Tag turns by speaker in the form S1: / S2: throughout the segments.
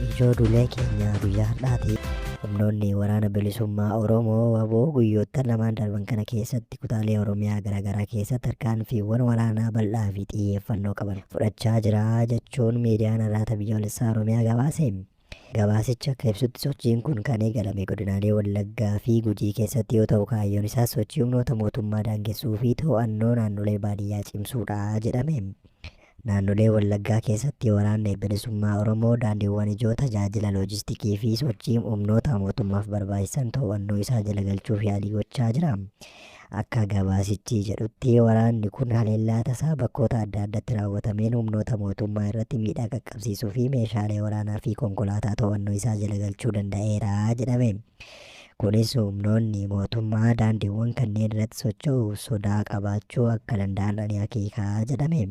S1: Ijoo duulee keenya guyyaa har'aati. Humnoonni waraana bilisummaa Oromoo waboo guyyoota lamaan darban kana keessatti kutaalee Oromiyaa garaagaraa keessatti tarkaanfiiwwan waraanaa bal'aa fi xiyyeeffannoo qaban fudhachaa jira jechuun miidiyaan irraata biyyoolessaa Oromiyaa gabaase. Gabaasicha akka ibsutti sochiin kun kan eegalame godinaalee Wallaggaa fi Gujii keessatti yoo ta'u kaayyoon isaas sochii humnoota mootummaa daangessuu fi to'annoo naannolee baadiyyaa cimsuudha jedhame. Naannolee Wallaggaa keessatti waraanni bilisummaa Oromoo daandiiwwan ijoo tajaajila loojistikii fi sochii humnoota mootummaaf barbaachisan to'annoo isaa jala galchuuf yaalii gochaa jira. Akka gabaasichi jedhutti, waraanni kun haleellaa tasaa bakkoota adda addatti raawwatameen humnoota mootummaa irratti miidhaa qaqqabsiisuu fi meeshaalee waraanaa fi konkolaataa to'annoo isaa jala galchuu danda'eera jedhame. Kunis humnoonni mootummaa daandiiwwan kanneen irratti socho'uuf sodaa qabaachuu akka danda'an ni akeeka jedhame.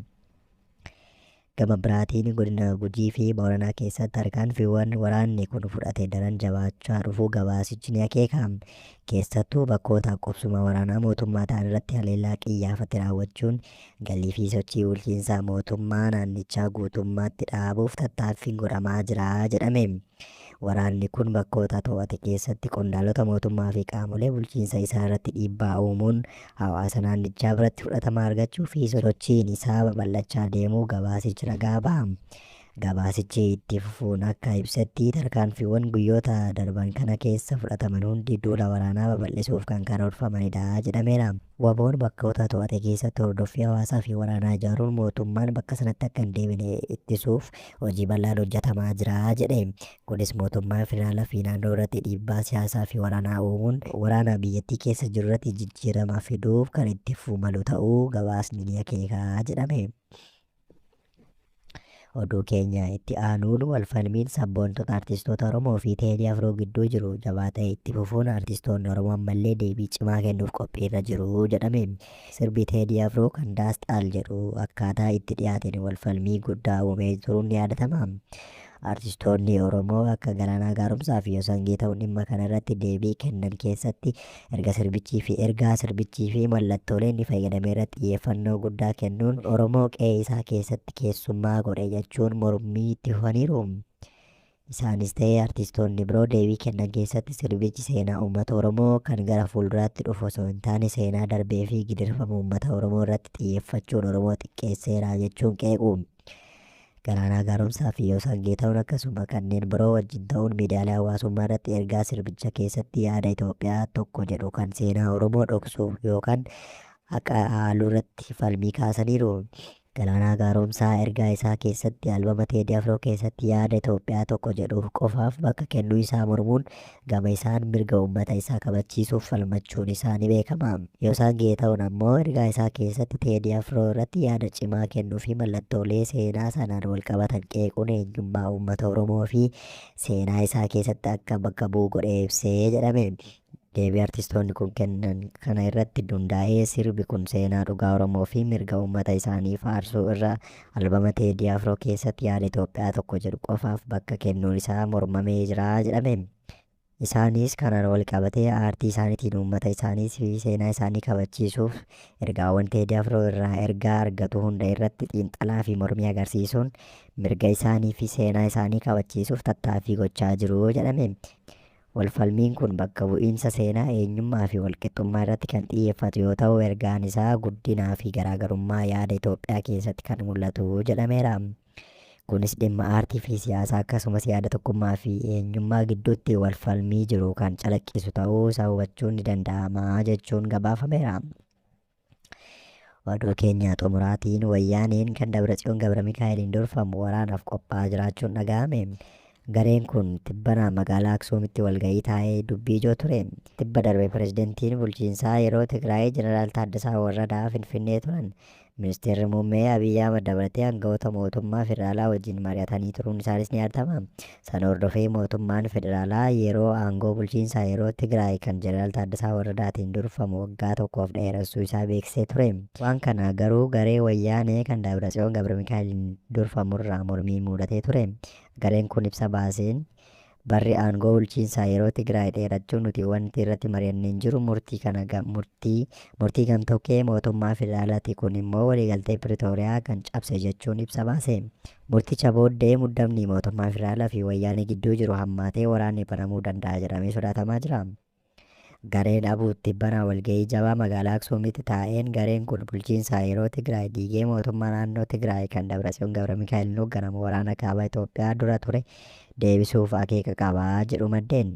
S1: Gama biraatiin godina Gujii fi Booranaa keessatti tarkaanfiiwwan waraanni kun fudhate daran jabaachaa dhufuu gabaasichi ni akeeka. Keessattuu bakkoota qubsuma waraanaa mootummaa ta'an irratti haleellaa qiyyaafate raawwachuun galii fi sochii bulchiinsa mootummaa naannichaa guutummaatti dhaabuuf tattaaffiin godhamaa jira jedhame. Waraanni kun bakkoota to'ate keessatti qondaalota mootummaa fi qaamolee bulchiinsa isaa irratti dhiibbaa uumuun hawaasa naannichaa biratti fudhatama argachuu fi sosochiin isaa babal'achaa deemuu gabaasichi ragaa baha. Gabaasichi itti fufuun akka ibsetti tarkaanfiiwwan guyyoota darban kana keessa fudhataman hundi duula waraanaa babal'isuuf kan karoorfamanidha jedhameera. Waboon bakkoota to'ate keessatti hordoffii hawaasaa fi waraanaa ijaaruun mootummaan bakka sanatti akka hin deebine ittisuuf hojii bal'aan hojjetamaa jira jedhe. Kunis mootummaa federaalaa fi naannoo irratti dhiibbaa siyaasaa fi waraanaa uumuun waraana biyyattii keessa jiru irratti jijjiirama fiduuf kan itti fufuu malu ta'uu gabaasni ni akeeka jedhame. Oduu keenya itti aanuun walfalmiin sabboontota artistoota Oromoo fi Teedii Afroo gidduu jiru jabaa ta'e itti fufuun artistoonni Oromoo ammallee deebii cimaa kennuuf qophiirra jiru jedhame. Sirbi Teedii Afroo kan Daasxaal jedhu akkaataa itti dhiyaateen walfalmii guddaa uumee turuun ni yaadatama. Artistoonni Oromoo akka Galaanaa Gaaromsaa fi Yosan Geetahuun dhimma kana irratti deebii kennan keessatti erga sirbichii fi ergaa sirbichii fi mallattoolee inni fayyadame irratti xiyyeeffannoo guddaa kennuun Oromoo qe'ee isaa keessatti keessummaa godhe jechuun mormii itti fufaniiru. Isaanis ta'e artistoonni biroo deebii kennan keessatti sirbichi seenaa uummata Oromoo kan gara fuulduraatti dhufu osoo hin taane seenaa darbee fi gidirfama uummata Oromoo irratti xiyyeeffachuun Oromoo xiqqeesseera jechuun qeequ. Galaanaa Gaaromsaa fi Yoosan Geetawun akkasuma kanneen biroo wajjin ta'uun miidiyaalee hawaasummaa irratti ergaa sirbicha keessatti yaada Itoophiyaa tokko jedhu kan seenaa Oromoo dhoksu yookaan haqa haaluu irratti falmii kaasaniiru. Galaanaa Gaaromsaa ergaa isaa keessatti albama Teedii Afroo keessatti yaada Itoophiyaa tokko jedhu qofaaf bakka kennuu isaa mormuun Gama isaan mirga uummata isaa kabachiisuuf falmachuun isaa ni beekama. Yoosan Geetahun ammoo ergaa isaa keessatti Teedii Afroo irratti yaada cimaa kennuu fi mallattoolee seenaa sanaan walqabatan qeequun eenyummaa uummata Oromoo fi seenaa isaa keessatti akka bakka bu'u godhee ibse jedhame. Deebii artistoonni kun kennan kana irratti dundaa'ee sirbi kun seenaa dhugaa Oromoo fi mirga uummata isaanii faarsuu irra Albama Teedii Afroo keessatti yaada Itoophiyaa tokko jedhu qofaaf bakka kennuun isaa mormamee jira jedhame. Isaanis kanaan walqabatee aartii isaaniitiin uummata isaaniis fi seenaa isaanii kabachiisuuf ergaawwan Teedii Afroo irraa ergaa argatu hunda irratti xiinxalaa fi mormii agarsiisuun mirga isaanii fi seenaa isaanii kabachiisuuf tattaaffii gochaa jiru jedhame. Walfalmiin kun bakka bu'iinsa seenaa, eenyummaa fi walqixxummaa irratti kan xiyyeeffatu yoo ta'u, ergaan isaa guddinaa fi garaagarummaa yaada Itoophiyaa keessatti kan mul'atu jedhameera. Kunis dhimma aartii fi siyaasaa akkasumas yaada tokkummaa fi eenyummaa gidduutti walfalmii jiru kan calaqqisu ta'uu isaa hubachuun ni danda'ama jechuun gabaafameera. Oduu keenya xumuraatiin wayyaaneen kan Dabratsiyoon Gabra Mikaa'eliin durfamu waraanaaf qophaa'aa jiraachuun dhaga'ame. Gareen kun tibbana magaalaa Aksuumitti walga'ii taa'ee dubbii ijoo ture. Tibba darbe pirezidantiin bulchiinsaa yeroo Tigraay Jeneraal Taaddasaa Warradaa Finfinnee turan. Ministeerri Muummee Abiy Ahmad dabalatee aangawoota mootummaa federaalaa wajjin mari'atanii turuun isaanis ni yaadatama. Sana hordofee mootummaan federaalaa yeroo aangoo bulchiinsaa yeroo Tigraay kan Jeneraal Taaddasaa Warradaatiin durfamu waggaa tokkoof dheeressuu isaa beeksisee ture. Waan kana garuu garee Wayyaanee kan Daabratsiyoon Gabramikaa'eliin durfamurraa mormiin muudatee ture. Gareen kun ibsa baaseen, Barri aangoo bulchiinsaa yeroo Tigraay dheerachuu nuti wanti irratti mari'anne hin jiru, murtii kana ga, murtii, murtii gamtokkee mootummaa federaalaati kun immoo waliigaltee Piritooriyaa kan cabse jechuun ibsa baase. Murticha booddee muddamni mootummaa federaalaa fi Wayyaanee gidduu jiru hammaatee waraanni banamuu danda'a jedhamee sodaatamaa jira. Gareen ABUT tibbana walga'ii jabaa magaalaa Aksuumitti taa'een gareen kun bulchiinsa yeroo Tigraay diigee mootummaa naannoo Tigraay kan Dabratsiyoon Gabramikaa'eliin hoogganamu waraana kaaba Itoophiyaa dura ture deebisuuf akeeka qaba jedhu maddeen.